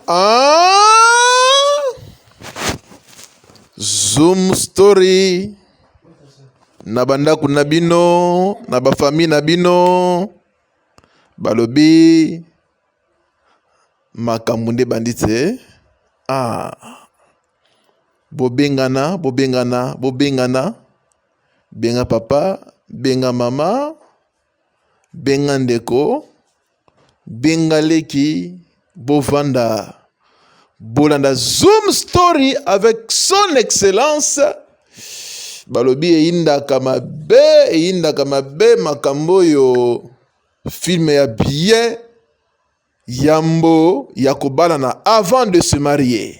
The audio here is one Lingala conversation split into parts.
Ah! Zoom story na bandako na bino na bafamille na bino balobi makambo nde bandi te ah. bobengana bobengana bobengana benga papa benga mama Benga ndeko, benga leki, bovanda, bolanda Zoom Story avec son excellence. Balobi eyindaka mabe, eyindaka mabe makambo oyo film ya bien yambo ya kobalana avant de se marier.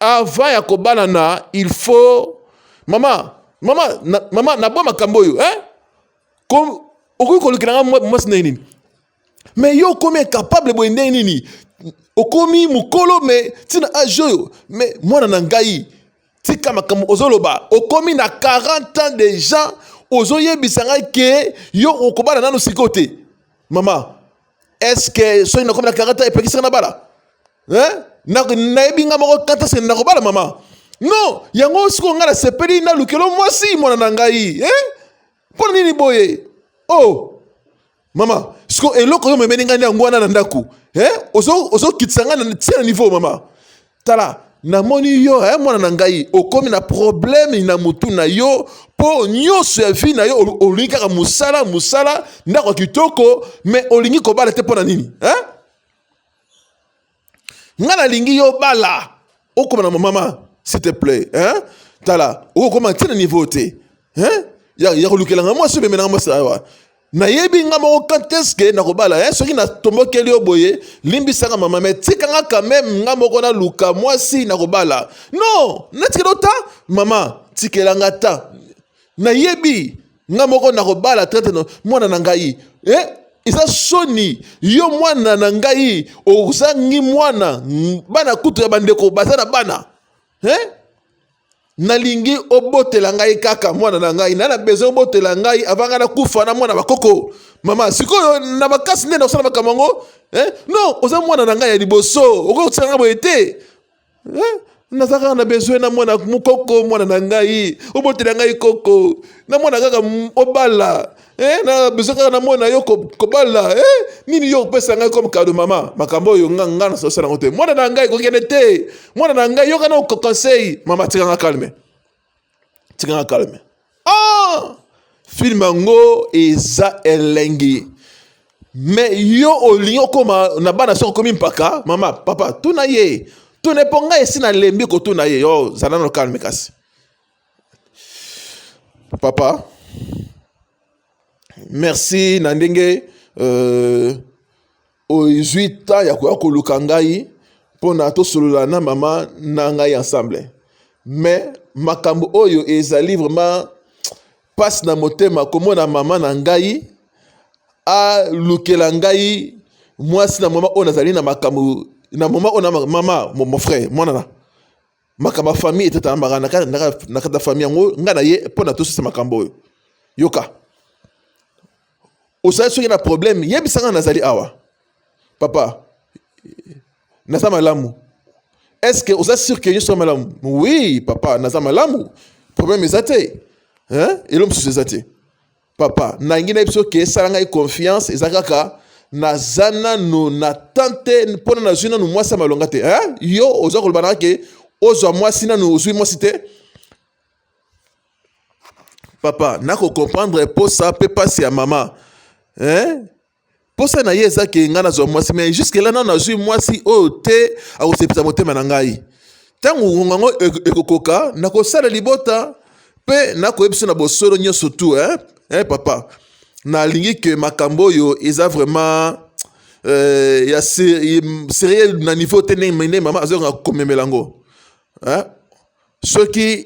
Avant ya kobalana il faut mama mama na, mama na bwa makambo oyo eh ko okoki kolukela nga mwasi ndenge nini mais yo okomi incapable boye ndenge nini okomi mokolo me ntina age oyo me mwana na ngai tika makambo ozoloba okomi na 40 ans de gens ozoyebisa ngai ke yo okobala nano sikoyo te mama estce soki nakomi na 40 ans epekisaka na bala hein na nayebi nga moko kata se na kobala mama non yango sikoyo ngai nasepeli na lukelo mwasi mwana na ngai eh? mpo na nini boye o oh. mama sikoyo eloko yo memeli ngai nde yango wana na ndako eh? ozokitisa ngai na tia na niveau mama tala namoni yo eh, mwana na ngai okomi na probleme na motu na yo mpo nyonso ya vi na yo olingi kaka mosala mosala ndako ya kitoko me olingi kobala te mpo na nini eh? nga nalingi yo bala okoma na momama s'il te plaît hein? tala okokoma ntina niveau te hein? ya, ya kolukela nga mwasi obemela nga mwasi awa nayebi nga moko quand est-ce que nakobala eh, soki natombokeli yo boye limbisaka mama me tika nga quand même nga moko naluka mwasi nakobala non natikela ta mama tikela nga ta nayebi nga moko nakobala traite na mwana na ngai eh? eza soni yo mwana na ngai ozangi mwana bana kutu ya bandeko baza na bana eh? nalingi obotela ngai kaka mwana na ngai na na besoin obotela ngai avant ngai nakufa na mwana bakoko mama sikoyo na makasi nde nakosala makambo yango eh? non oza mwana na ngai ya liboso okoki kotisaka ngai boye te Eh, naza kaka na besoin na mwana mokoko mwana na ngai obotela ngai koko na mwana kaka obala eh, na besoin kaka na mwana yo kobala eh, nini yo opesa ngai comme kado mama makambo oyo nga nga na sosala yango te mwana na ngai kokende te mwana na ngai yoka na conseil mama tikanga calme tika na calme ah! filme yango eza elengi me yo olingi okoma na bana soki okomi mpaka mama papa tuna ye tuna mpo ngai esi nalembi kotuna ye yo zala no calme kasi papa merci na ndenge euh, Ozwi temps ya koya koluka ngai mpona tosolola na mama na ngai ensemble. Mais makambo oyo ezali vraiment pasi na motema komona mama na ngai alukela ngai mwasi na mama oyo nazali na makambo na mama oyo na mama mon frère mwana na makambo ya famille etetalambaka na kati ya famille yango ngai na ye mpo na tosisa makambo oyo yoka osali soki na problème yebisa ngai nazali awa papa naza malamu est ce que oza sur ke nyonso malamu oui papa naza malamu problème eza te elo mosusu eza te papa nangi na biso ke esala ngai confiance eza kaka naza nanu na temps te mpo na nazwi nanu mwasi ya malonga te eh? yo oza koloba nanga ke ozwa mwasi nanu ozwi mwasi te papa nakokomprendre mposa mpe mpasi ya mama eh? Posa na ye eza ke ngai nazwa mwasi mais jusque là nano nazwi mwasi oyo te akosepisa motema na ngai. Ntango ngonga yango ekokoka nakosala libota mpe nakoyebisa na bosolo nyonso tu eh? Eh, papa nalingi ke makambo oyo eza vraiment euh, ya serieux na niveau te ndenge mama azokanga komemela yango eh? soki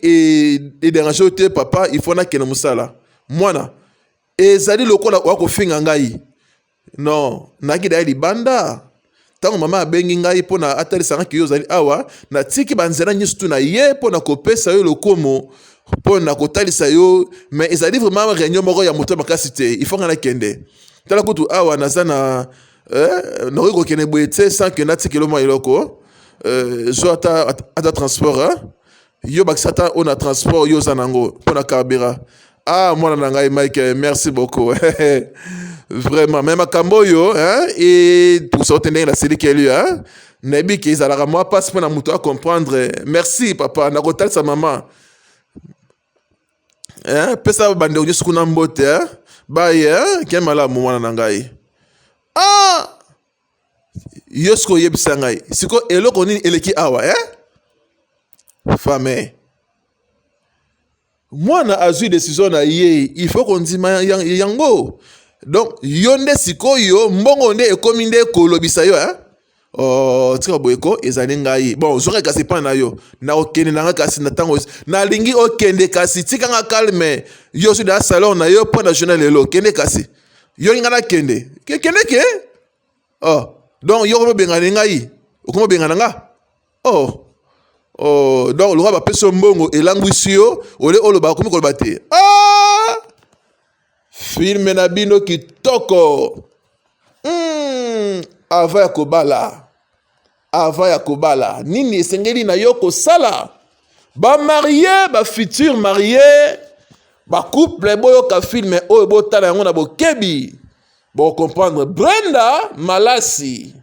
ederange te papa il faut nakende mosala mwana ezali lokola oya kofinga ngai non nayaki daya libanda ntango mama abengi ngai mpo na atalisa ngai kiyo ozali awa natiki banzela nyonso tu na ye mpo na kopesa yo lokomo mpo na kotalisa yo me ezali vraiment réunion moko ya moto makasi te ifo ngai nakende tala kutu awa naza na eh, nakoki kokende boye te sans ke natikelo mwa eloko eh, zwa ata, ata transport eh? yo bakisa ata oyo na transport yo oza nango mpo na carburant ah mwana na ngai mike merci beaucoup vraiment me makambo oyo epusa ote ndenge nasilikeli nayebi ke ezalaka mwa mpasi mpo na moto acomprendre merci papa nakotalisa mama pesa bandeko nyonso kuna mbote baye ke malamu mwana na ngai ah yo sikoyo oyebisa ngai sikoyo eloko nini eleki awa eh? fame mwana azwi desizio na ye il faut kondima yango donc yo nde sikoyo mbongo nde ekomi nde kolobisa yo eh? Oh, tika boye ko ezali ngai bon ozwaka kasi epai na yo nakokende na ngai kasi na ntango nalingi okende kasi tika nga calme yo ozwi na salon na yo mpo na journal lelo kende kasi yo linga na kende ke kende ke oh donc yo ko bengana ngai okoma bengana nga oh Oh, donc lokola bapesi yo mbongo elangwisi yo ole oloba akomi koloba te ah! filme na bino kitoko mm, ava ya kobala Avant ya kobala, nini esengeli na yo kosala? Ba marie, ba futur marie, ba couple boyoka film oyo botala yango na bokebi. Bo comprendre Brenda Malasi,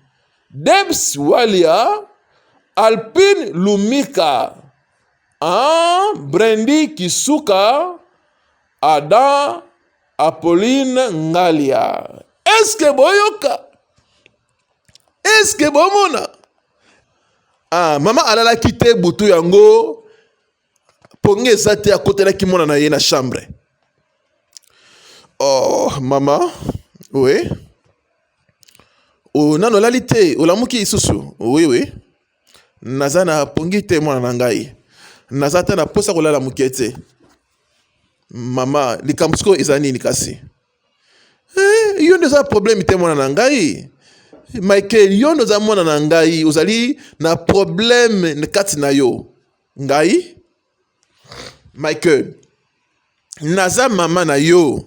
Debs Walia, Alpine Lumika, ah, Brandy Kisuka, Adam Apolline Ngalia. Est-ce que boyoka? eske bomona ah, mama alalaki te butu yango pongi eza te akotelaki mwana na ye na chambre oh mama oui oh, nano olali te olamuki lisusu oui oui naza na pongi te mwana na ngai naza ata na mposa kolala moke te mama likambo sikoyo eza nini kasi Eh, yo nde oza problème te mwana na ngai michael yo nde oza mwana na ngai ozali na problème na kati na yo ngai michael naza mama na yo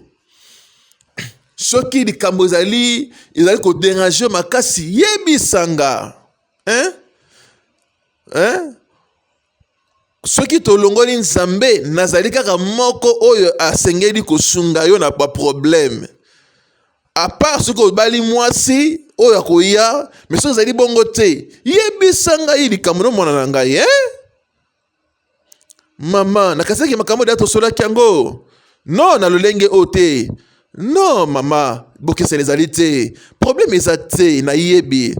soki likambo ezali ezali koderange makasi yebisa nga hein? Hein? Soki tolongoli Nzambe, nazali kaka moko oyo asengeli kosunga yo na ba problème. A part soki obali mwasi oyo akoya, mais soki ezali bongo te, yebisa ngai likambo na mwana na ngai eh? Mama, nakasaki makambo da tosolaki yango. Non, na lolenge oyo te. non mama bokeseni ezali te probleme eza te nayebi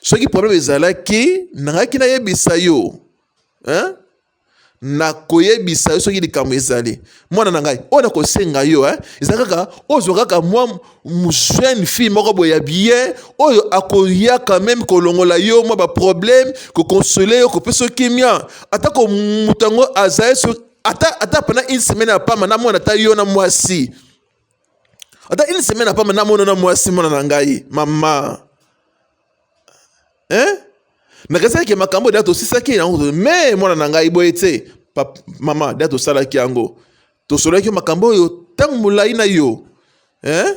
soki probleme ezalaki nangaki nayebisa yo hein? nakoyebisa yo soki likambo ezali mwana na ngai oyo nakosenga yo eh, eza kaka ozwa kaka mwa jeune fille moko boye ya bien oyo akoyaka meme kolongola yo mwa baproblème kokonsole yo kopesa yo kimia atako moto yango azali ata ata pendant une semaine ya pamba namona ata yo na mwasi ata une semaine ya pamba namona na mwasi mwana na ngai mama hein nakesaki ke makambo da tosisaki yango me mwana na ngai boye te mama da tosalaki yango tosololaki makambo oyo ntango molai na yo hein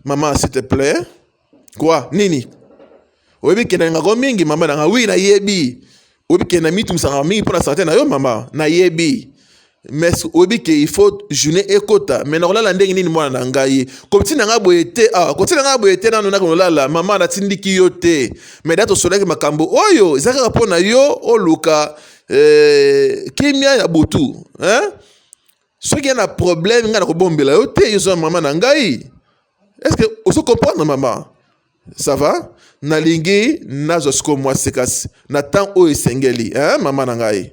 Maman, s'il te plaît. Quoi? Nini? Oyebi kenda ngako mingi mama nanga. Oui, nayebi. Oyebi kenda mitu misanga mingi pona santé na yo mama. Nayebi. Mais oyebi ke il faut journée ekota. Mais nakolala ndenge nini mwana na ngai? Kotina ngai boye te. Ah, kotina ngai boye te nanu nakolala. Mama natindiki yo te. Mais dato solaki makambo oyo ezaka kaka pona yo oluka eh, kimia ya butu. Hein? soki ya na problème ngai nakobombela yo te yoza mama na ngai estce ozo comprendre mama ça va nalingi nazwa sikoyo mwa sekasi na ntango oyo esengeli eh, mama na ngai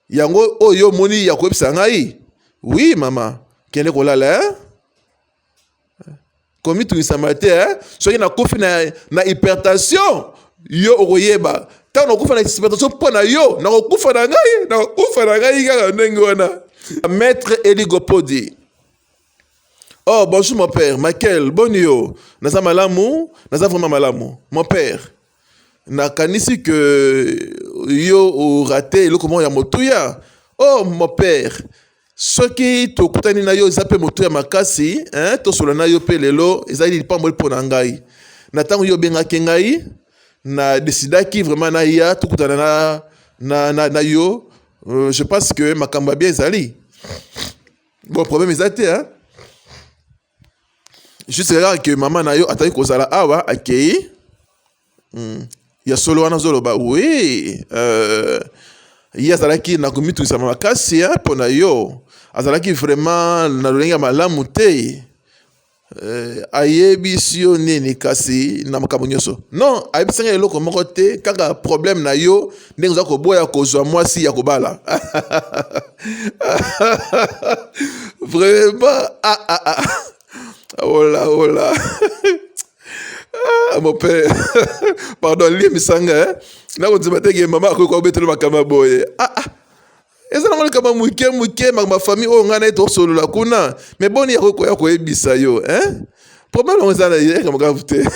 yango oyo omoni ya koyebisa ngai wi mama kende kolala eh? komitungisama te eh? soki nakufi na, na hypertension yo okoyeba ntango nakufa na hypertension mpo na yo nakokufa na ngai nakokufa na ngai kaka ndenge wana maître eligopodi oh bonjour mon père michael boni yo naza malamu naza vraiment malamu mon père nakanisi ke yo orate eloko moko ya motuya oh mon père soki tokutani na yo eza mpe moto ya makasi hein? tosola na yo mpe lelo ezali lipamboli mpo na ngai na ntango yo obengaki ngai na desidaki vraiment naya tokutana na, na, na, na yo euh, je pense que makambo ya bien ezali bon problème eza te hein? juste kaka ke mama na yo ataki kozala awa akei hmm. ya solo wana ozoloba wi euh, ye azalaki na komitungisa makasi mpo na yo azalaki vraiment na lolenge ya malamu te euh, ayebisi yo nini kasi na makambo nyonso non ayebisi ngai eloko moko te kaka problème na yo ndenge oza koboya kozwa mwasi ya kobala vraiment ah, ah, ah. ola oh ola oh ah, mon père pardon lie misanga eh? nakondima te ke mama akoki kobetela makambo ya boye ah, ah. eza nango likambo ya moke moke makambo ya famille oyo ngai naye tosolola kuna me boni yakokoya koyebisa yo hein? problème yango eza na ye likambo grave te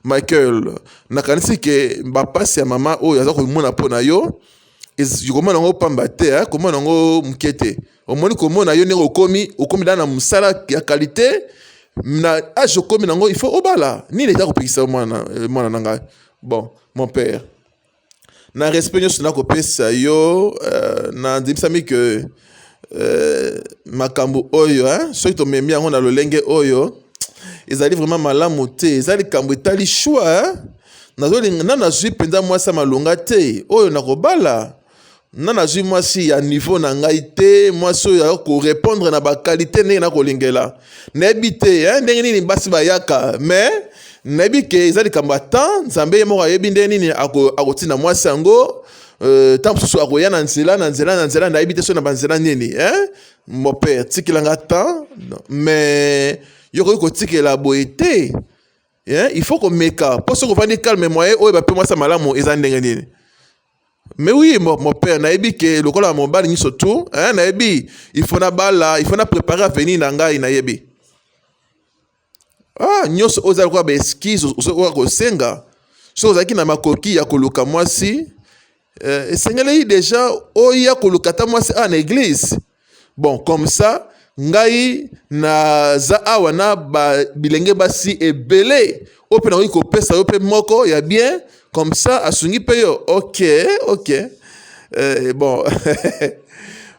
michael nakanisi ke bapasi ya mama oyo aza komona mpo na yo komona yango pamba te eh? komona yango moke te omoni komona yo ndenge okomi okomi da na mosala ya kalite na age okomi nango il faut obala nini eza kopekisa mwana eh, na ngai bon mon père na respect nyonso nakopesa yo uh, nandimisami ke uh, makambo oyo hein, soki tomemi yango na lolenge oyo ezali vraiment malamu te eza likambo etali shwa nazolinga na nazwi mpenza mwasi ya malonga te oyo nakobala na nazwi mwasi ya niveau na ngai te mwasi oyo ayoki korepondre na bakalite ndenge nakolingela nayebi te eh, ndenge nini basi bayaka mais nayebi ke eza likambo ya temps nzambe ye moko ayebi ndenge nini akotinda mwasi yango euh, ntango mosusu akoya na nzela na nzela na nzela nayebi te so na banzela nini eh? mopere tikelanga temps mais yokoki kotikela boye te eh? il faut komeka mpo soki ofandi calme moye oyo bape mwasi ya malamu eza ndenge nini Mais oui, mon, mon père, nayebi que lokola mobali nyiso tout, hein, nayebi, il faut na bala, il faut na préparer avenir na ngai, nayebi. Ah, nyoso oza lokola ba excuse ozokoka kosenga. So ozalaki na makoki ya koluka mwasi, eh, esengeli deja oya koluka ata mwasi a na église. Bon, comme ça, ngai naza awa na ba bilenge basi ebele oyo mpe nakoki kopesa yo mpe moko ya bien comme ça asungi mpe yo ok ok eh, bon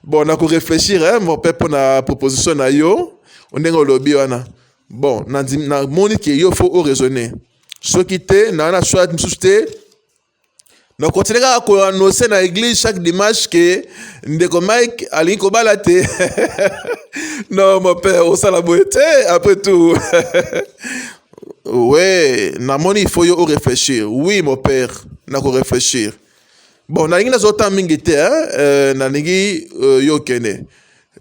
bon nakoreflechir eh, mo mpe mpo na proposition na yo ndenge olobi wana bon namoni ke yo fo oraisonne soki te naa na soit mosusu te na continue kaka ko annoncer na église chaque dimanche que ndeko Mike alingi kobala te non mon père osala boye te après tout ouais namoni il faut yo o réfléchir oui mon père na ko réfléchir bon nalingi nazwa temps mingi te hein euh, nalingi euh, yo okende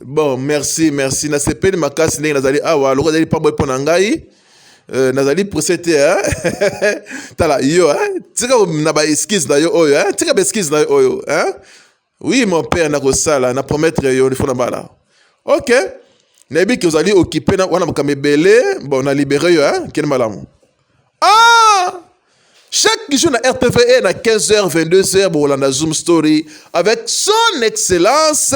bon merci merci nasepeli makasi ndenge nazali awa lokola ezali pambwe mpo na ngai euh, nazali presse te eh? tala yo eh? tika na baeskise na yo oyo eh? tika baeskise na yo oyo eh? oui mon père nakosala na promettre yo lifo na bala ok nayebi ke ozali okipe wana makambo ebele bon na libere yo eh? kende malamu Ah! Chaque jour na RTVE na 15h, 22h, Bolanda Zoom Story avec son excellence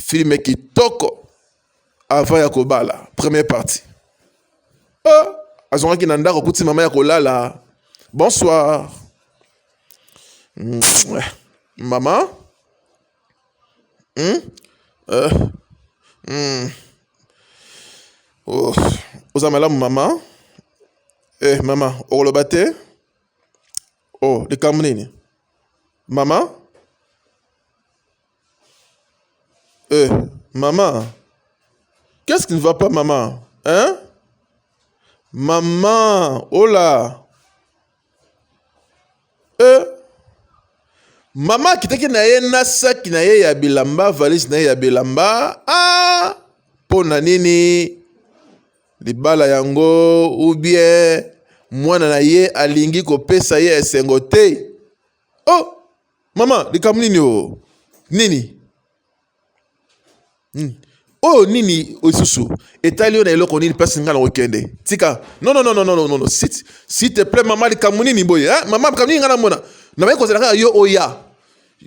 film kitoko avant ya kobala première partie. Ah! Azongaki na ndako kuti mama ya kolala. Bonsoir. Maman Oza malamu mama eh mama okoloba te oh likambo nini mama eh mama qu'est ce qui ne va pas mama hein mama ola Euh, mama akitaki na ye na saki na ye ya bilamba valise na ye ya bilamba ah, mpo na nini libala yango ou bien mwana na ye alingi kopesa ye esengo te oh mama likambo nini o oh? nini Hmm. oyo nini oyo lisusu etali yo na eloko nini mpasi ngai nakokende tika nononononono site site ple mama likambo nini boye eh? mama likambo nini ngai namona nabai kozela kaka yo oya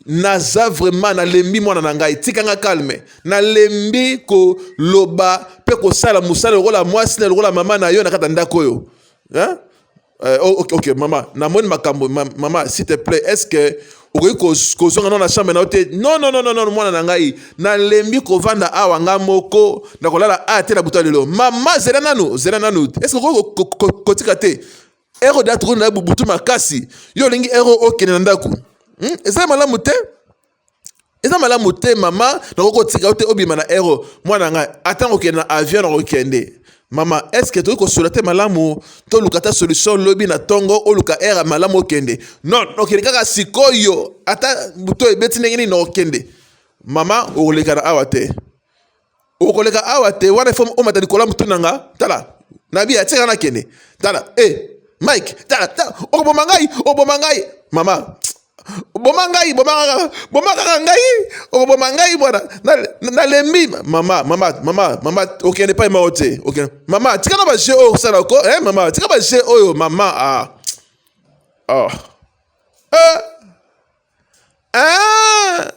naza vraiment nalembi mwana na ngai tika ngai kalme nalembi koloba mpe kosala mosala lokola mwasi na lokola mama na yo na kati ya ndako oyo eh? Euh, oh, ok, ok, maman, namoni makambo, maman, s'il te plaît, est-ce que okoki kozonga na na chambre na yo te non non non non mwana na ngai nalembi kovanda awa ngai moko nakolala aya te na buta lelo mama zela nanu zela nanu eske okoki kotika te ero de atokoni na butu makasi yo olingi ero okende na ndako hmm? ezali malamu te eza malamu te mama nakoki kotika yo te obima na aero mwana na ngai ata kokende na avion na kokende mama eske tokoki kosola te malamu toluka ata solution lobi na ntongo oluka aire malamu okende non okende kaka sikoyo ata buto ebeti ndenge nini okende mama okolekana awa te okoleka awa te wana ifo omata likolo ya motu na nga tala nabi atika na kende tala e eh, mike tala tala okoboma ngai oboma ngai mama boma ngai boma kaka ngai okoboma ngai bwana nalembi mama mama mama mama okende epai moko te okende mama tika na baje oyo osala ko e eh, mama tika baje oyo mama a ah. oh. Ah. eh. Eh!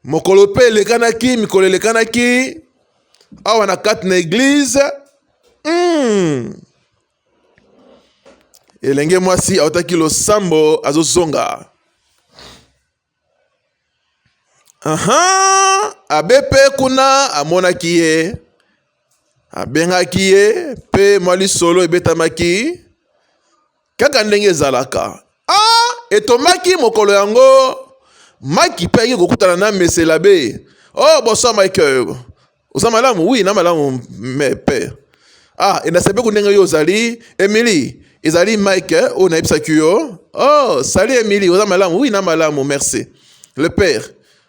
mokolo mpe elekanaki mikolo elekanaki awa na kati na eglize mm. elenge mwasi autaki losambo azozonga aha abe mpe kuna amonaki ye abengaki ye mpe mwa lisolo ebetamaki Kaka ndenge ezalaka, a etomaki mokolo yango, Mike mpe ayaki kokutana na Mese Labe. Oh, bonsoir Mike, oza malamu? Oui, na malamu me père. Ah, et nasepeku ndenge yo ozali. Emily, ezali Mike eh, oyo nayebisaki yo. Oh, salut Emily, oza malamu? Oui, na malamu, merci. Le père,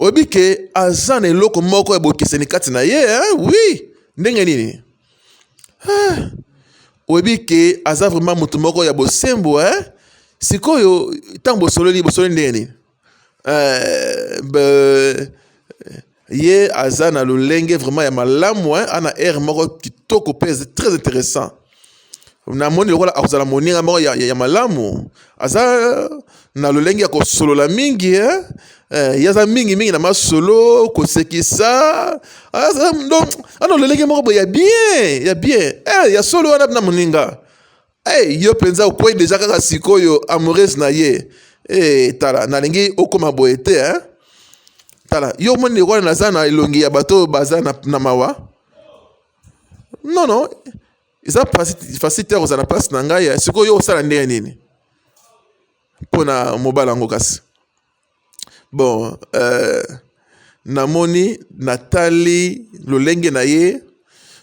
oyebi ke aza na eloko moko ya bokeseni kati na ye wi ndenge nini ah, oyebi ke aza vraiment moto moko ya bosembo eh? sikoyo ntango bosololi bosololi ndenge nini eh, ye aza na lolenge vraiment ya malamu eh? ana aire moko kitoko mpe très intéressant na moni lokola akozala moninga moko ya, ya, ya malamu aza na lolenge ya kosolola mingi eh? Eh, ye aza mingi mingi na masolo kosekisa aza ah, na lolenge moko boye ya bien ya bien eh, ya solo wana na moninga hey, eh, yo mpenza okwei deja kaka sikoyo amoureuse na ye hey, eh, tala nalingi okoma boye te eh? tala yo omoni lokola naza na elongi ya bato oyo baza na, na mawa non non eza facile te kozala place na ngai ya sikoyo yo osala ndenge nini mpo na mobala yango kasi bon euh, namoni natali lolenge na ye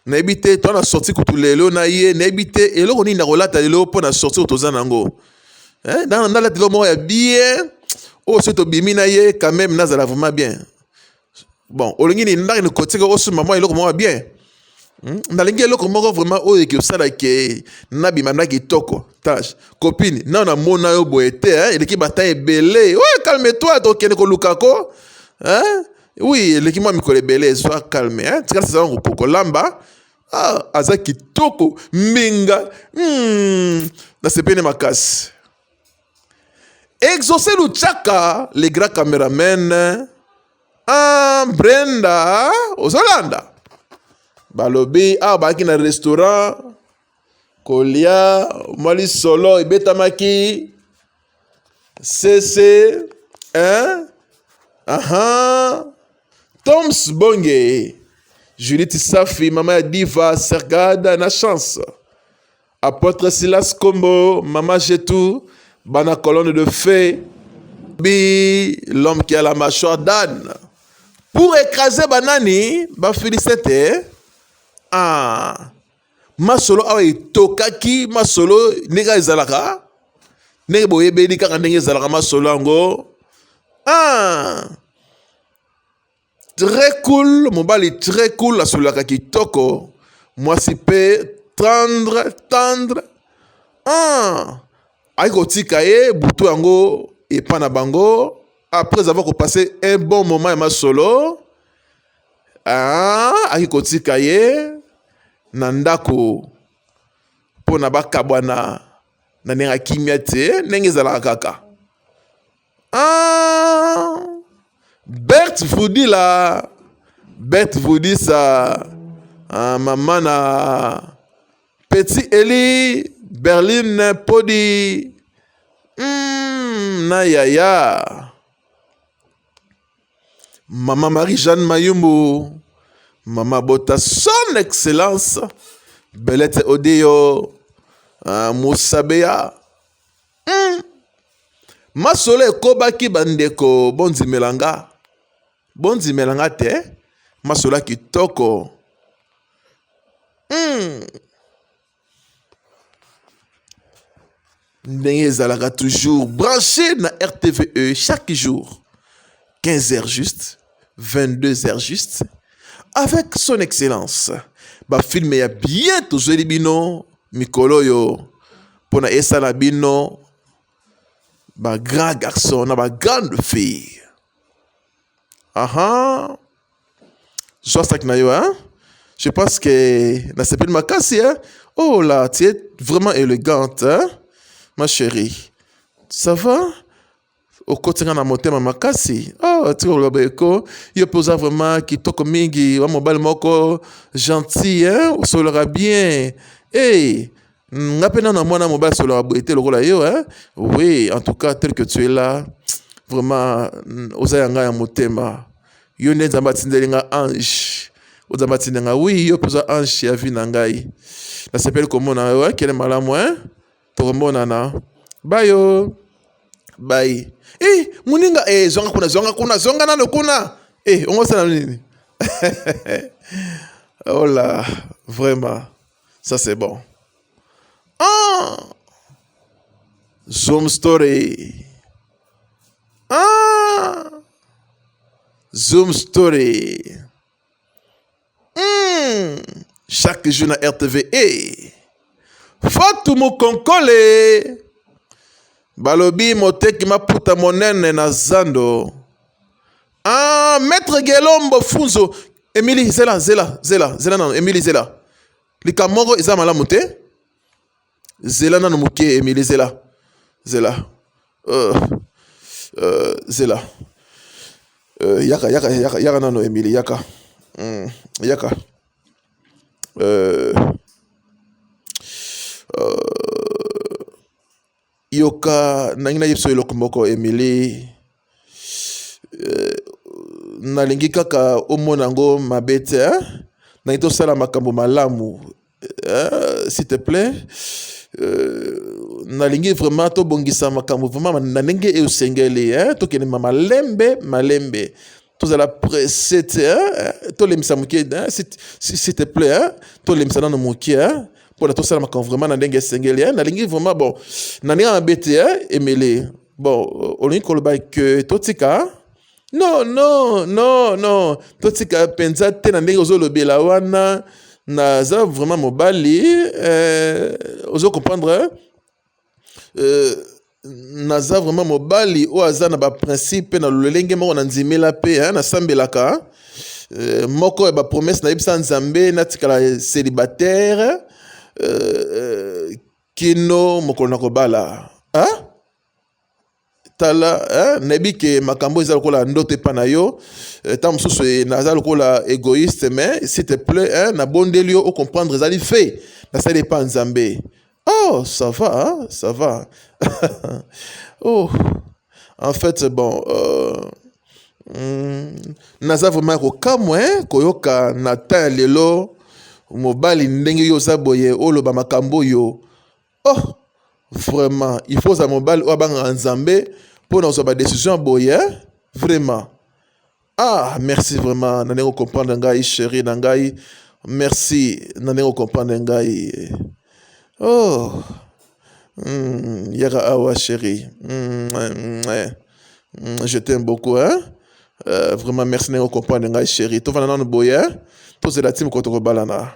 nayebi te to na sorti kutu lelo na ye nayebi te eloko nini nakolata lelo mpo na sorti oyo toza na yango eh, nalata eloko moko ya bien oyo soki tobimi na ye quand même nazala vraiment bien bon olingi nini ndaki nikotika osomba mwa eloko moko bien hmm? nalingi eloko moko vraiment oyo ekosala ke nabima nda kitoko tache copine nao namona yo boye te eh? eleki batin ebele oyo calme toi tokende koluka ko eh? oui eleki mwa mikolo ebele ezwa calme eh? tika sezala kopoko lamba ah, aza kitoko mbinga hmm. nasepeli makasi Exauce Luchaka, le grand cameraman. Ah, Brenda, ozolanda. Balobi, ah, baki na restaurant. Kolia, mali solo, ebetamaki. Sese, hein? Aha. Toms Bonge, Judith Safi, mama ya Diva, Sergada na Chance. Apotre Silas Kombo, Mama Jetou, Bana Colonne de Feu, Bi, l'homme qui a la mâchoire d'âne. Pour écraser banani, ba Philisete, ah, masolo awa etokaki masolo ndenge ezalaka ndenge boyebeli kaka ndenge ezalaka masolo yango ah. Très cool, mobali très cool, asolaka kitoko, mwasi pe tendre, tendre. Ah, ayi kotika ye butu yango epa na bango après avoir passé un bon moment ya masolo. Ah, ayi kotika ye na ndako mpo na bakabwana na ndenge ya kimia te ndenge ezalaka kaka Ah, Bert vous dit là, Bert vous dit ça. Ah, maman na petit Eli, Berlin Podi, hmm, na yaya. Maman Marie-Jeanne Mayumbu, Maman Bota, son excellence, Belette Odeyo, ah, Moussabeya. Hmm. Masolo ekobaki bandeko bondimela nga bondimela nga te masolo kitoko hmm. ndenge ezalaka toujours branché na rtve chaque jour 15 heures juste 22 heures juste avec son excellence bafilme ya bien tozweli bino mikolo oyo mpo na esala bino ba grand garçon na ba grande fille aha zwa saki na yo hein? je pense que nasepeli makasi hein? oh là tu es vraiment élégante hein? ma chérie ça va okoti nga na motema makasi oh, tika koloba eko yo mpe oza vraiment kitoko mingi wa mobali moko gentil hein? osololaka bien hey, nga mpe nano mwana mobali asololaka boye te lokola yo hein? oui en tout cas tel que tu es là vraiment mm, oza ya ngai ya motema yo nde nzambe atindeli nga ange ozambe atindeli nga oui yo mpe oza ange ya vie na ngai nasepeli komona yo hein? kende malamu hein? tokomonana bayo bai eh, muninga eh, zonga kuna zonga kuna zonga nano kuna eh, ongosana nini oh là vraiment ça c'est bon ah zoom story ah zoom story Hum, chaque jour na rtv e eh. fatu mukonkole balobi moteki maputa monene na zando ah, maître gelombo funzo emili zela zela zela zela nano emili zela likambo moko eza malamu te zela nanu moke emili zela zela uh, uh, zela uh, yaka yaka yaka yaka nanu emili yaka mm, yaka uh, uh, yoka nangi na yebiso eloko moko emili uh, nalingi kaka omona yango mabe te eh? nangi tosala makambo malamu Euh, s'il te plaît euh, nalingi vraiment tobongisa makambo vraiment na ndenge eyo osengeli eh, tokende ma malembe malembe tozala presse te eh, tolembisa moke eh, s'il te plaît eh, tolembisa nano moke eh, mpona tosala makambo vraiment na ndenge esengeli eh, nalingi vraiment bon na ndenge mabe te eh, emele bon olingi koloba ke totika non non non non totika mpenza te na ndenge ozolobela wana naza vraiment mobali euh, ozo comprendre euh, naza vraiment mobali oyo aza na baprincipe mpe na lolenge moko na ndimela mpe nasambelaka euh, moko ya bapromese nayebisa nzambe natikala célibataire euh, euh, kino mokolo na kobala hein? tala eh, nayebi ke makambo eza lokola ndoto epa na yo eh, ntango mosusu eh, naza lokola egoïste mais s'il te plaît eh, nabondeli yo ocomprendre ezali fait nasali epa nzambe oh ça va hein? ça va oh en fait bon euh, mm, naza vraiment kokamwa eh, koyoka na temps ya lelo mobali ndenge yo oza boye oloba makambo oyo Ohh vraiment il faut ozala mobali oyo abangaka nzambe pona kozwa ba decision ya boye hein vraiment ah merci vraiment na ndenge ocomprendre ngai cherie na ngai merci na ndenge ocomprendre ngai oh mm, yaka awa cherie mm, mm, eh. Mm, je t'aime beaucoup hein euh, vraiment merci ndenge ocomprendre ngai cherie tofanda nano boye hein tozela ti mokolo tokobalana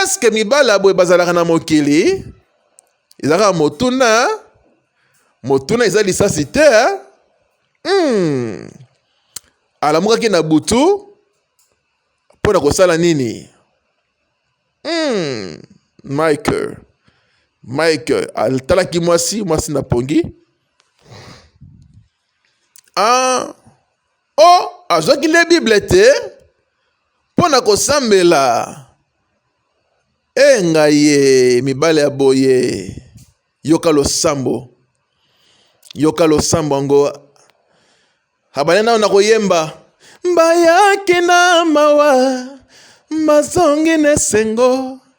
eske mibali ya boye bazalaka na mokili ezalaka motuna motuna eza lisasi te hmm. alamukaki na butu mpo na kosala nini hmm. michael michael atalaki mwasi mwasi na pongi ah. o azwaki nde bible te mpo na kosambela e ngai ye mibale ya boye yoka losambo yoka losambo yango abale nao na koyemba mbayaki na mawa mazongi na esengo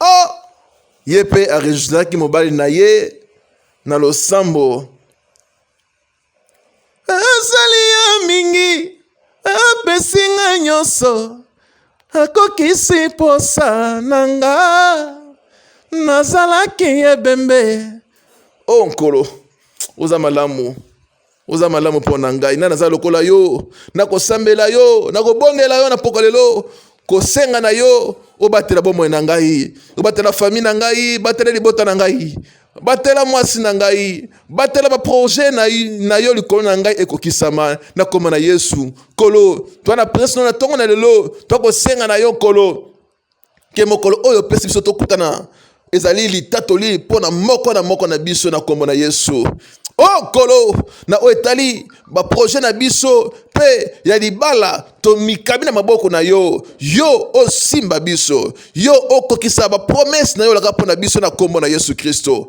oh! ye mpe aregistraki mobali na ye na losambo asali ya mingi apesi nga nyonso akokisi mposa na nga nazalaki ebembe o oh, nkolo oza malamu oza malamu mpo na ngai nani aza lokola yo nakosambela yo nakobondela yo na pokwa lelo kosenga na yo obatela bomoi na ngai obatela fami na ngai batela libota na ngai batela mwasi na ngai batela baproje na, na yo likolo na ngai ekokisama na koma na yesu kolo twana presno na ntongo na lelo twakosenga na yo kolo ke mokolo oyo opesi biso tokutana ezali litatoli mpo na moko na moko na biso na nkombo na yesu o oh, nkolo na oyo etali baproje na biso mpe ya libala tomikabi na maboko na yo yo osimba biso yo okokisa bapromese na yo olaka mpo na biso na nkombo na yesu kristo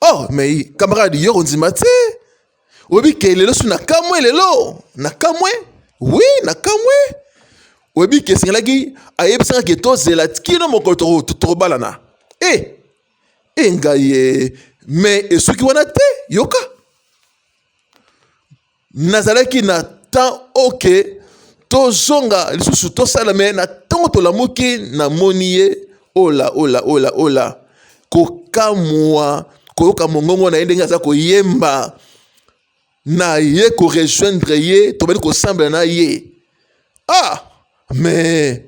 oh mais camarade yo kondima te oyebi ke lelo so nakamwe lelo nakamwe wi nakamwe oyebi ke esengelaki ayebisaka ke tozela kino mokolo tokobalana e eh, e eh, ngai ye mais esuki wana te yoka nazalaki na temps oke tozonga lisusu tosala me na ntango tolamuki namoni ye ola ola ola ola kokamwa koyoka mongongo na ye ndenge aza koyemba na ye korejoindre ye tobandi kosambela na ye ah me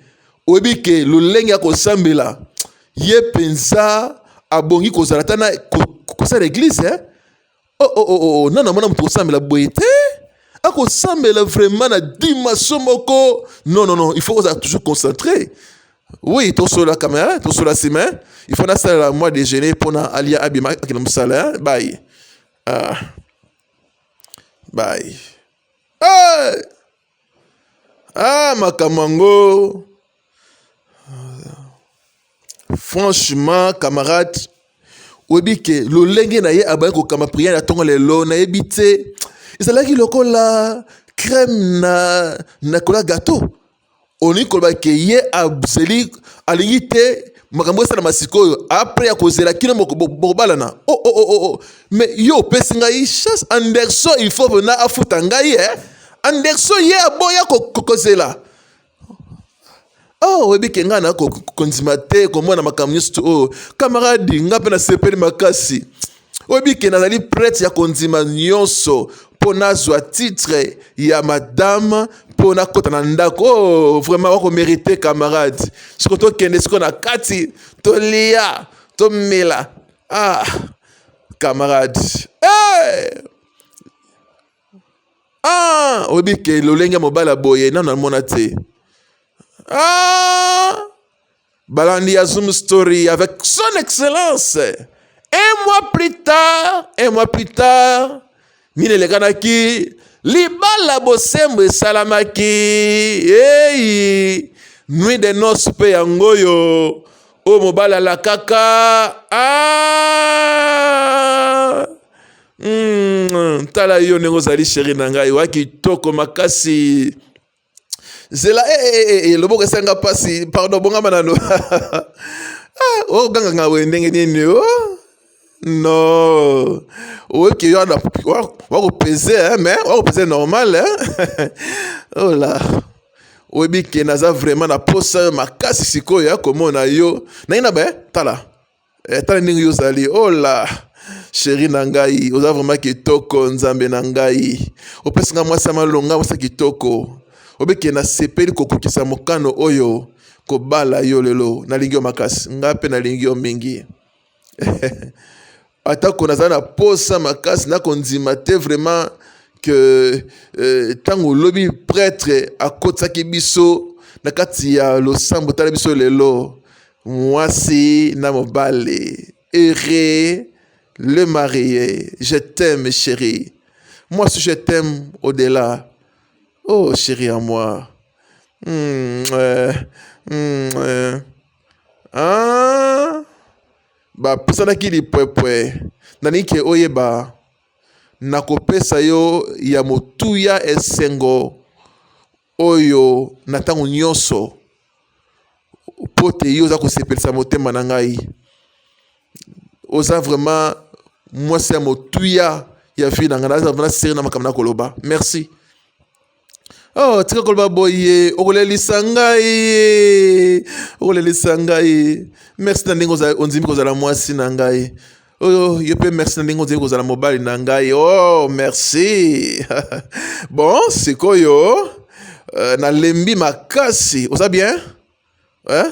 oyebi ke lolenge ya kosambela ye mpenza abongi kozala ata na kosala eglize eh? Oh, oh, oh, oh, oh nana mwana moto kosambela boye te akosambela vraiment na dimension moko non non non il faut kozala toujours concentré oui tosola kamera tosola nsima hein. il faut nasalela mwa déjeuner mpo na alia abima akenda mosala hein. baye ah. baye hey! ah makambo yango franchement camarade oyebi ke lolenge na ye abandi kokamba priere ya ntongo lelo nayebi te ezalaki lokola crème na na kola gato olingi koloba ke ye azeli alingi te makambo esalama sikoyo apres ya kozela kino bokobalana o oh, oh, oh, oh, oh. mais yo opesi ngai chasse anderson il faut pena afuta ngai eh? Anderson ye aboya kokozela oh oyebi ke ngai na kondima te komona makambo nyonso oyo kamaradi ngai mpe nasepeli makasi oyebi ke nazali prete ya kondima nyonso mpo nazwa titre ya madame mpo nakota na ndako oh, vraiment wakomerite camarade soko tokende siko na kati tolia tomela ah camarade hey! Eh! ah oyebi ke lolenge ya mobali ya boye nano amona te ah balandi ya zoom story avec son excellence un mois plus tard un mois plus tard nini elekanaki libala bosembo esalamaki eyi nuit de noce mpe yango oyo oyo mobali alakaka ah! Mm, tala yo ndenge ozali sheri na ngai wa kitoko makasi zela e, e, e, e, loboko esanga mpasi pardon bongama nano ah, oganganga oh, boye ndenge nini o oh? no oyoki yo wakopeze eh, me wakopeze normal eh? ola oh oyebi ke naza vraiment na posa makasi sikoyo ya komona yo naina be tala Eh, tala ndenge yo ozali ola oh sheri na ngai oza vraimen kitoko nzambe na ngai opesi ngai mwasi ya malonga mwasi ya kitoko obeke nasepeli kokokisa mokano oyo kobala yo lelo nalingi yo makasi ngai mpe nalingi yo mingi atako nazali na posa makasi nakondima te vraiment ke ntango euh, lobi pretre akotisaki biso na kati ya losambo tala biso lelo Muasi na mobali heureux le marie je t'aime cherie muasi je t'aime au delà oh cherie à moi mm, euh, mm, euh. Ah, bapesanaki lipwepwe nalingi ke oyeba nakopesa yo ya motuya esengo oyo na ntango nyonso mpo te yo oza kosepelisa motema na ngai oza vraiment mwasi ya motuya ya vie na ngai naza vraiment seri na makambo nakoloba merci oh tika koloba boye okolelisa ngai okolelisa ngai merci na ndenge ondimi kozala mwasi na ngai oyo yo mpe merci na ndenge ozali kozala mobali na ngai oh merci bon sikoyo uh, nalembi makasi oza bien eh?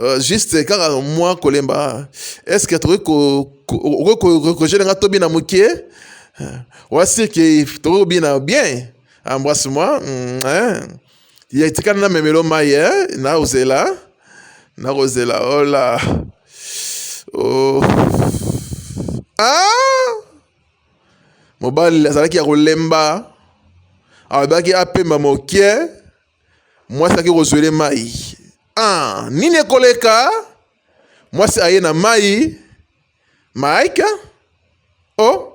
Uh, juste kaka mwa kolemba est ce que tokoki kokogele nga tobina moke wasirke tokoki kobina bien embrasse moi mm, eh? ye tikana na memelo mai eh? nakozela nakozela ola oh. ah! mobali azalaki ya kolemba alobaki apema moke mwasi aki kozwele mai ah, nini ekoleka mwasi aye na mai maika o oh.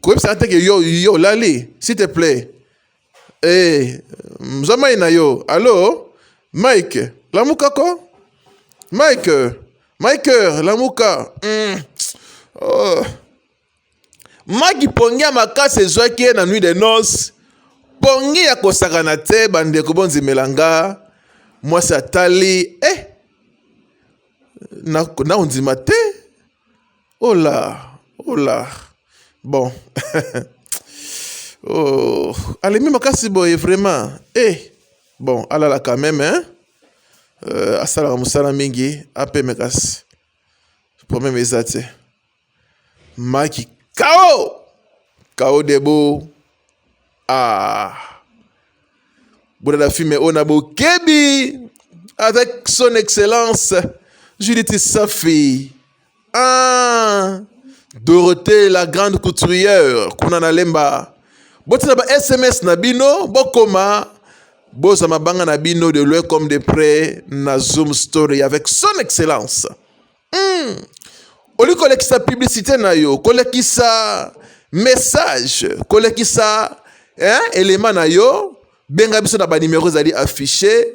koyebisa nga te ke yo yo olali s'il te plaît eh zwa mai na yo allo mike lamuka ko mike mike lamuka mm. oh. maki pongi ya makasi ezwaki ye na nuit de noce pongi ya kosakana te bandeko bondimela nga mwasi atali eh, nakondima na te Oh là, oh là. Bon. oh, alemi makasi boye vraiment. Eh. Bon, alala quand même hein. Euh, asalaka mosala mingi apeme kasi problème eza te maki kao kao debo ah. bolala filme oyo na bokebi avec son excellence judith safi Ah, Dorothée la grande couturière kuna na lemba botina ba sms na bino bokoma boza mabanga na bino de loin comme de près na zoom story avec son excellence mm. oli kolekisa publicité na yo kolekisa message kolekisa hein, elema na yo benga biso na banimero ezali affiche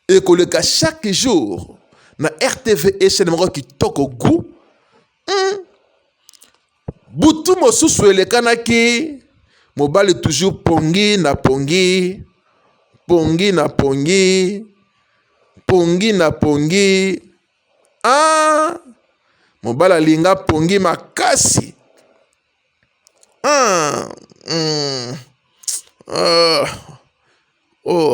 ekoleka chaque jour na rtv echene moko kitoko gu hmm. butu mosusu elekanaki mobali toujours pongi na pongi pongi na pongi pongi na pongi ah mobali alinga pongi makasi Ah, hmm, ah, oh,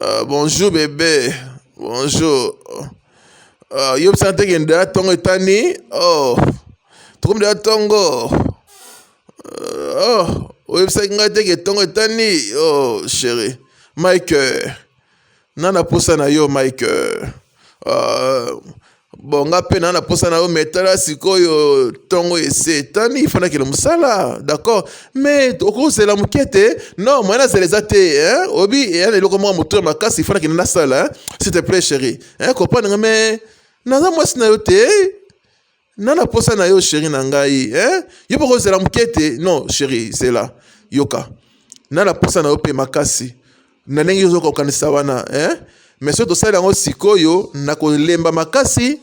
ah, bonjour bébé, bonjour. Ah, yo bisa te kende ya tongo etani, oh, tokomde ya tongo. Ah, oh, oyebisaki ngai te ke tongo etani, oh, chérie, Mike. na na posa na yo mike uh, bon nga mpe na na posa na yo me tala sikoyo ntongo ese etani ifanakele mosala d'accord me okozela moke te non moyen azela eza te hein? obi eya na eloko moko motu ya makasi ifanakele nasala hein? s'il te plaît chéri hein? comprendre nga me naza mwasi na yo te na na posa na yo sheri na ngai eh? yo mpe kozela moke te non sheri zela yoka na na posa na yo mpe makasi na ndenge ozoka kokanisa wana eh? mais soki tosali yango sikoyo na kolemba makasi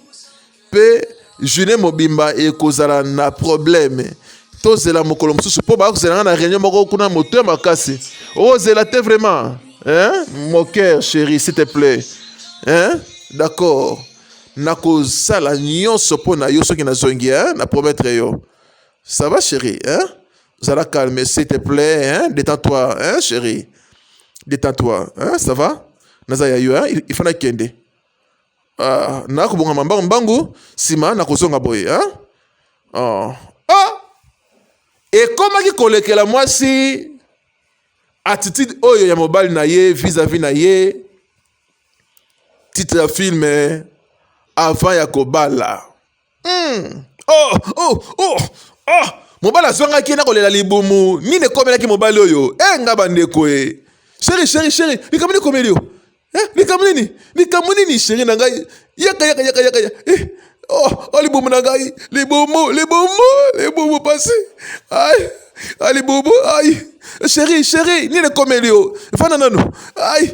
mpe journée mobimba ekozala na problème tozela mokolo mosusu mpo baya kozela nga na réunion moko kuna moto ya makasi ozela te vraiment hein? mon cœur chéri s'il te plaît hein? d'accord Nakosala nyonso mpo na yo soki nazongi, hein? na promettre yo. Ça va chérie, hein? Zala calme, s'il te plaît, hein? Détends-toi, hein, chérie? Détends-toi, hein? Ça va? Naza ya yo, hein? Il faut nakende. Ah, nakobonga mambangu mbangu, sima nakozonga boye, hein? Oh. Ah! Ekomaki kolekela mwasi attitude oyo ya mobali na ye vis-à-vis na ye titre ya film eh, avant ya kobala mm. oh, oh, oh, oh. mobali azwangaki ye na kolela libumu nini ekomelaki mobali oyo e eh, nga bandeko e eh. sheri sheri sheri likambo nini ekomeli yo eh, likambo nini likambo nini sheri na ngai yaka yaka yaka yaka eh. oh, oh, libumu na ngai libumu libumu libumu pasi ai alibubu ai sheri sheri nini ekomeli yo efanda nanu ai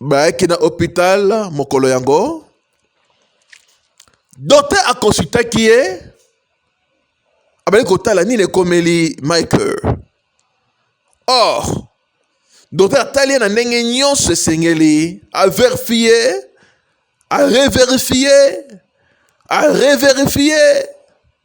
bayaki na hopital mokolo yango dote akonsultaki ye abali kotala nini ekomeli michael or dote atali ye na ndenge nyonso esengeli averifie areverifie areverifie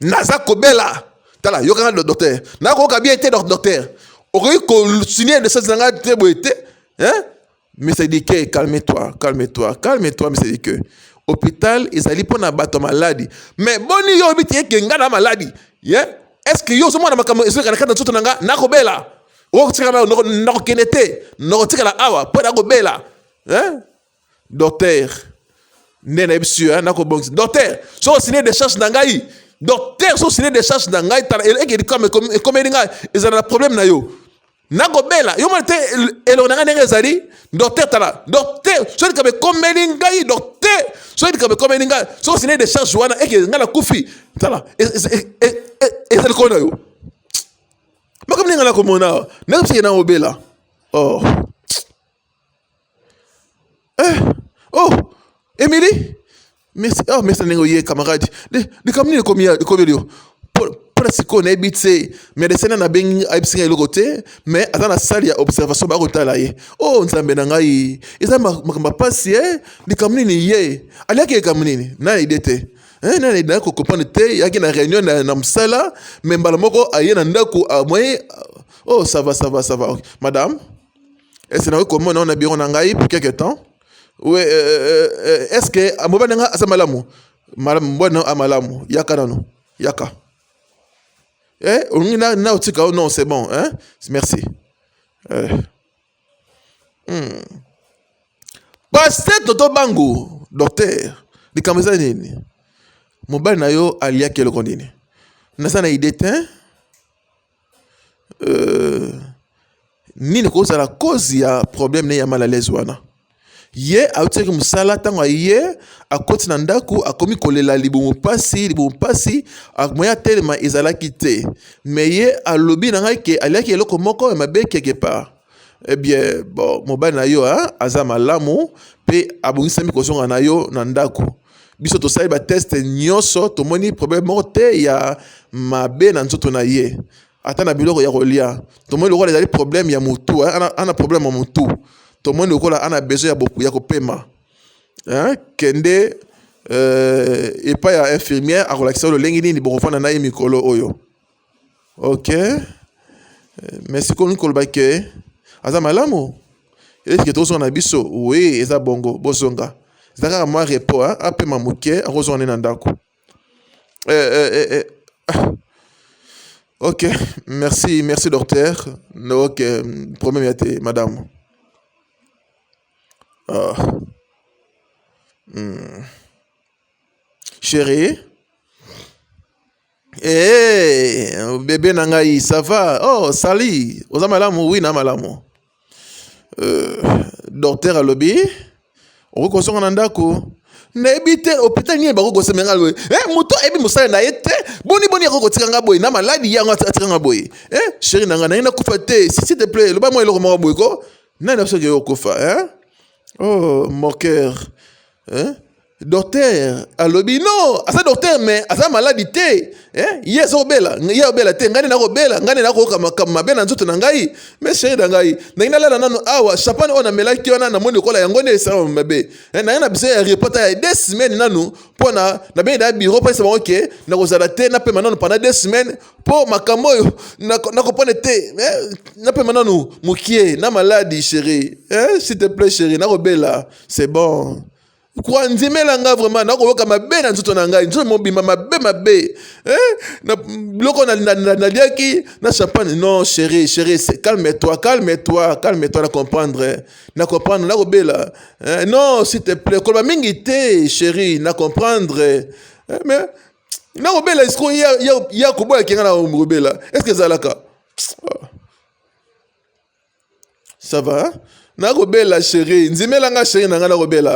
naza kobela tala yoka nga docteur nakoyoka bien te docteur okoki kosinie desese na ngai te boye te mesedike calme toi calme toi calme toi mesedike hôpital ezali mpo na bato ya maladi mais boni yo oyebi te ke ngai na maladi ye est ce que yo ozomona makambo ezoleka na kati na nzoto na ngai nakobela okotikala nakokende te nakotikala awa mpo nakobela Docteur, nde na ebisi yo na kobongisa. Docteur, so osine decharge na ngai, docteur so osine decharge na ngai, tala ekedi kama ekomeli ngai, ezala na problème na yo. nakobela yo mona te elongo na ngai ndenge ezali docteur tala docteur soki likambo ekomeli ngai docteur soki likambo ekomeli ngai soki osine decharge wana eke ngai nakufi tala e, e, e, eza likolo na yo makambo ndenge ngai nakomona awa nakobisaki na obela oh Eh, oh, Emily, mesa oh, mesa ndenge oye camarade likambo nini ekomi ekobeli yo mpona sikoyo nayebi te medecin na nabengi ayebisi ngai eloko te mais aza na salle ya observation baya kotala ye o oh, nzambe na ngai eza makambo ya mpasi e eh? likambo nini ye aliaki likambo nini na ide te eh, nani ayaki kokopane te yaki na réunion na mosala mais mbala moko aye na ndako amoye ah, o oh, sava sava sava madame Est-ce que nakoki komona yo na biro na ngai pour quelque temps? Oui, euh, euh, euh, est-ce que ah, mobali nga aza malamu? Malamu, mobali na amalamu. Yaka nano, yaka. Eh, olingi na na otika oh non, c'est bon, hein? Merci. Eh. Hmm. Pasteur Toto Bango, docteur, likambo eza nini? Mobali na yo aliaki eloko nini? Naza na idée te. euh, nini kozala cause ya problème ne ya mal à l'aise wana ye autisaki mosala ntango aye akoti na ndako akomi kolela libumu mpasi libumu mpasi moye atelema ezalaki te me ye alobi na ngai ke aliaki eloko moko ya mabe quelque part Eh bien, bon, mobali na yo hein, aza malamu pe abongisami kozonga na yo na ndako. Biso tosali ba test nyonso tomoni problème moko te ya mabe na nzoto na ye. Ata na biloko ya kolia tomoni lokola ezali problème ya mutu hein, ana, ana problème ya mutu tomoni lokola ana besoin ya, boku, ya kopema hein? kende euh, epai ya infirmière akolakisa yo lolenge nini bokofanda na ye mikolo oyo. Ok, mais sikomi koloba ke aza malamu eske tozonga na biso? Oui, eza bongo, bozonga. Eza kaka mwa repo, apema moke, akozonga nde na ndako. Eh, eh, eh, eh. Ah. Ok, merci, merci docteur. Ok, problème ya te, madame. Ah. Hmm. Chérie Hey, eh, bebe na ngai ça va oh sali oza malamu oui na malamu euh, docteur alobi okoki kozonga na ndako nayebi te hôpital nini bakoki kosembe nga boye e eh, moto ayebi mosala na ye te boni boni akoki kotika nga boye na maladi yango atika nga boye e eh, sheri na nga naye nakufa te si te plait loba mwa eloko moko boye ko nani asoki okokufa e oh mon cœur eh? Docteur alobi non aza docteur mais aza maladi te eh? ye aza kobela ye abela te ngai nde nakobela ngai nde nakoyoka makambo mabe na nzoto na ngai me sheri na ngai nangi nalala nano awa chapane oyo namelaki wana namoni lokola yango nde esalama mabe eh, nangi na biso ya repota ya de semaine nanu mpo na nabengi na biro mpesa bango ke nakozala te napema nanu pendant de semaine mpo makambo oyo nakopone te eh, napema nanu mokie na maladi sheri eh, s'il te plaît sheri nakobela c'est bon koandimela ngai vraiment nakoyoka mabe na nzoto na ngai nzoto mobimba mabe mabe eh? na biloko naliaki na champagne non chéri chéri calme toi calme toi calme toi na comprendre na comprendre nakobela eh? non s'il te plaît koloba mingi te chéri na comprendre eh? mais nakobela esiko ya koboyaki ngai na kobela est ce que ezalaka ah. ça va hein? nakobela sheri nzimela nga sheri na nga nakobela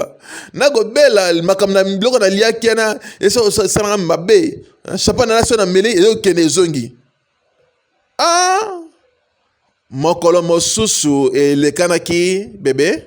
nakobela makambo na biloko naliaki yana esalanga mabe chapa nalasi oyo nameli ezokende ezongi a ah! mokolo mosusu elekanaki bebe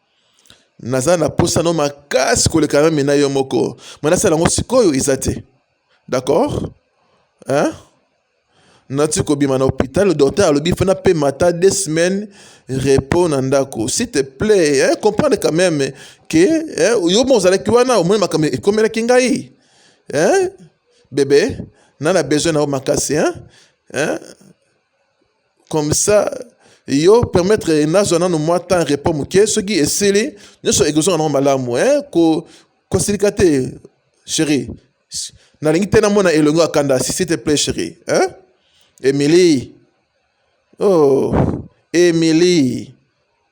naza na posa no makasi koleka meme na yo moko me nasala yango sikoyo eza te d'accord hein? nati kobima na hôpital docteur alobi fana mpe mata deux semaines repos na ndako s'il te plaît hein? comprendre quand même ke hein? yo mo ozalaki wana omoni makambo ekomelaki ngai hein? bebe na na besoin na yo makasi hein? hein? comme ça yo permettre nazwa nano mwa temps repos moke soki esili nyonso ekozonga nango malamu hein? ko kosilika te chérie nalingi te namona elongo ya kanda si s'il te plaît chérie hein? emilie oh emilie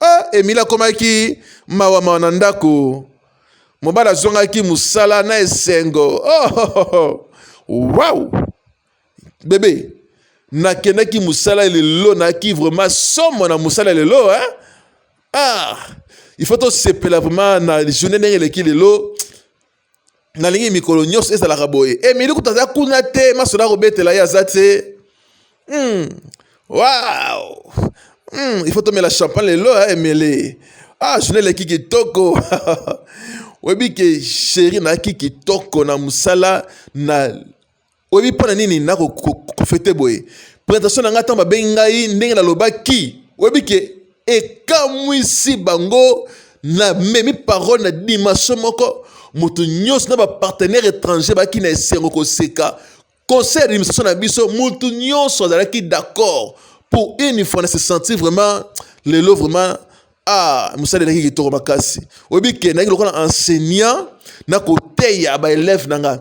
Ah, Emile akomaki mawa mawa na ndako. Mobali azongaki mosala na esengo. Oh, oh, oh, oh. Wow! Bebe, nakendaki mosala lelo, nayaki vraiment somo na mosala lelo hein? Ah, il faut tosepela vraiment na journée ndenge eleki lelo. nalingi mikolo nyonso ezalaka boye emili eh, kutu aza kuna te masolo akobetela ye aza te mm. wow. mm. il faut tomela champagne lelo eh, emili ah journée eleki kitoko oyebi ke sheri nayaki kitoko na mosala na Oyebi mpo na nini na kofete boye? Presentation na ngai ntango babengi ngai ndenge nalobaki, oyebi ke ekamwisi bango. Namemi parole na dimension moko, moto nyonso na bapartenaire étranger baki na esengo koseka. Conseil d'administration na biso, moto nyonso azalaki d'accord pour une fois na se sentir vraiment lelo vraiment ah mosala elaki kitoko makasi. Oyebi ke nayaki lokola enseignant na koteya baelève na ngai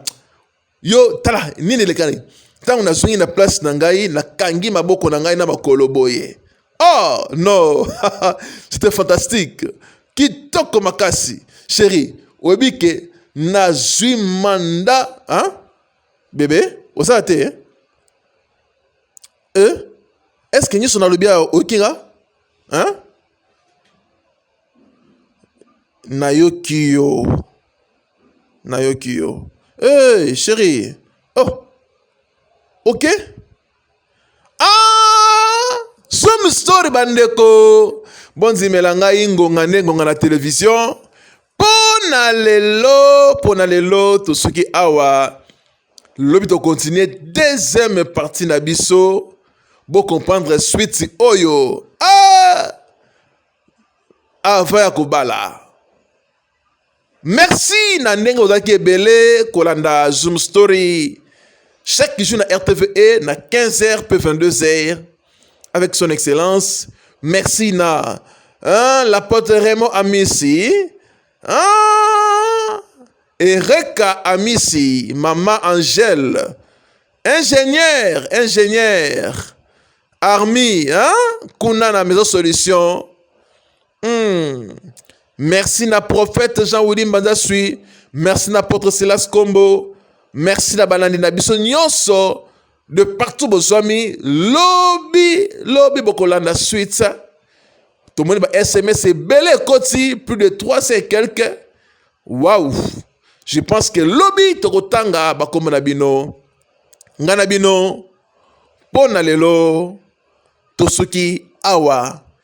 Yo tala nini elekani ntango nazongi na place na ngai nakangi maboko na ngai na makolo boye oh no c'était fantastique kitoko makasi sheri oyebi ke nazwi manda hein? bebe osala te hein? eh? est ce que nyonso nalobi ayo oyoki nga hein? nayoki yo nayoki yo hey, chérie oh ok ah some story bandeko bondimela ngai ngonga nde ngonga na televizio mpo na lelo mpo na lelo tosuki awa lobi tokontinue deuxième partie na biso bocomprendre suite oyo ah! avant ya kobala Merci na ndenge ozalaki ebele kolanda Zoom Story chaque jour na RTVE na 15h pe 22h avec son excellence. Merci na hein, la pote Raymond Amisi. Hein, Ereka Amisi, Mama Angèle, ingénieur, ingénieur, Armi, hein, Kunana Maison Solution. Hmm. Merci na prophète Jean Willy Mbanza Sui. Merci na apôtre Silas Kombo. Merci na balandi na biso nyonso de partout bozwami lobi lobi bokolanda suite tomoni ba sms ebele ekoti plus de 300 et quelque waouh je pense que lobi tokotanga bakombo na bino ngai na bino mpo na lelo tosuki awa